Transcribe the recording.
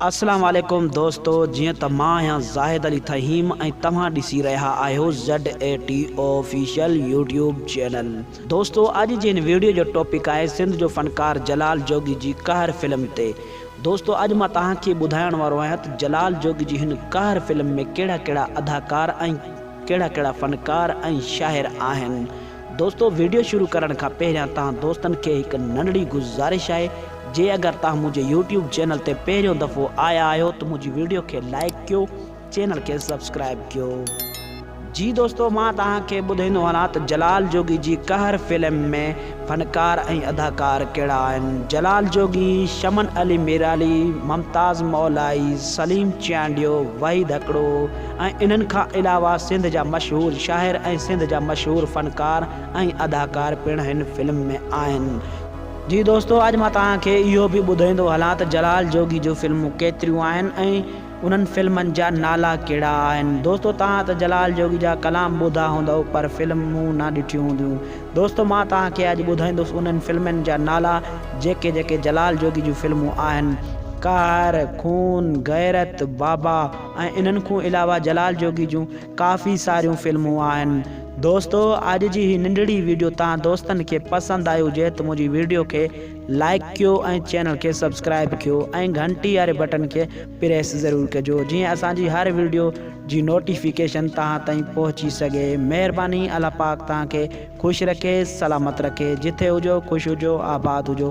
السلام عليڪم دوستو جيئن ته مان آهيان زاهد علي ٿهيم ۽ توهان ڏسي رهيا آهيو ZATO Official يوٽيوب چينل دوستو اڄ جي هن ويڊيو جو ٽاپڪ آهي سنڌ جو فنڪار جلال جوڳي جي قهر فلم تي دوستو اڄ مان توهان کي ٻڌائڻ وارو آهيان ته جلال جوڳي جي هن قهر فلم ۾ ڪهڙا ڪهڙا اداڪار ۽ ڪهڙا ڪهڙا فنڪار ۽ شاعر آهن دوستو ويڊيو شروع ڪرڻ کان پهريان تهان دوستن کي هڪ ننڍڙي گذارش آهي جي اگر تهان منهنجي يوٽيوب چينل تي پهريون دفعو آيا آهيو ته منهنجي ويڊيو کي لائيڪ ڪيو چينل کي سبسڪرائيب ڪيو جي دوستو مان تهان کي ٻڌائيندو هلان ته جلال جوڳي جي قهر فلم ۾ فنڪار ۽ اداڪار ڪهڙا آهن جلال جوڳي شمن علي ميرالي ممتاز مولائي سليم چيانڊيو وحيد هڪڙو ۽ انهن کان علاوه سنڌ جا مشهور شاعر ۽ سنڌ جا مشهور فنڪار ۽ اداڪار پڻ هن فلم ۾ آهن. جي دوستو اڄ مان توهان کي اهو به ٻڌائيندو هلان ته جلال جوڳي جون فلمون ڪيتريون آهن ۽ انهن فلمن جا نالا ڪهڙا آهن. دوستو توهان ته جلال جوڳي جا ڪلام ٻڌا هوندؤ پر فلمون نه ڏٺيون هونديون. دوستو مان توهان کي اڄ ٻڌائيندس انهن فلمين جا نالا جيڪي جيڪي جلال جوڳي جون فلمون آهن. قهر، خون، غيرت، بابا. ۽ انهن کون علاوه جلال جوڳي جون ڪافي ساريون فلمون آهن دوستو اڄ جي هي ننڍڙي ويڊيو تهان دوستن کي پسند آئي هجي ته منهنجي ويڊيو کي لائڪ ڪيو ۽ چينل کي سبسڪرائب ڪيو ۽ گهنٽي واري بٽن کي پريس ضرور ڪجو جيئن اسان جي هر ويڊيو جي نوٽيفڪيشن تهان تائين پهچي سگهي مهرباني الله پاڪ تهان کي خوش رکي سلامت رکي جٿي هجو خوش هجو آباد هجو